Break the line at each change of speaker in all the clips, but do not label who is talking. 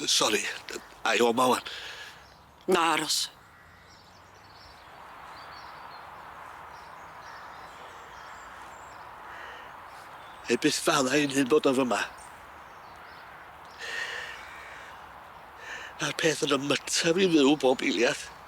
Sori, ai o 'ma ŵan? Na, aros. Neu byth fala ein hun bod o fy' 'ma. Ma'r peth yn 'y myta fi fyw bob eiliad.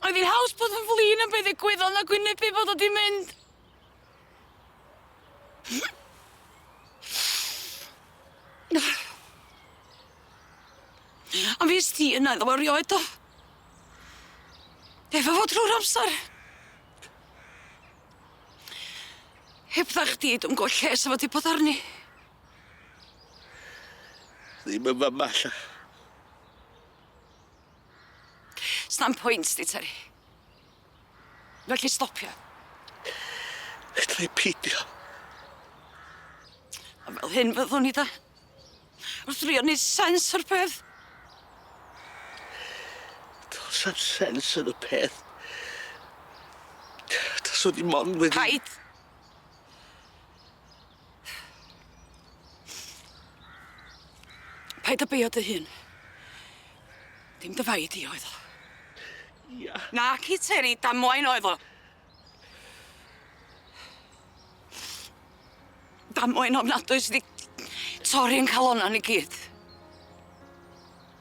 Oedd hi'n haws bod yn flin am be ddigwyddodd na gwynebu bod o di mynd. A fi sti yna iddo fo rioed o. Efo fo drwy'r amser. Heb dda chdi dwi'm gwbo lle sa fo di bod arni. Ddim yn fyma ella. Sna'm pwynt di Teri. Felly stopia. Fedra'i pidio. A fel hyn fyddwn i da. Wrth drio neud sens o'r peth. Do's am sens yn y peth. Taswn i mond wedi... Paid! Paid â beio dy hun. Dim dy fai di oedd o. Ia. Naci Teri, damwain oedd o. Damwain ofnadwy sy 'di torri'n calonna ni gyd.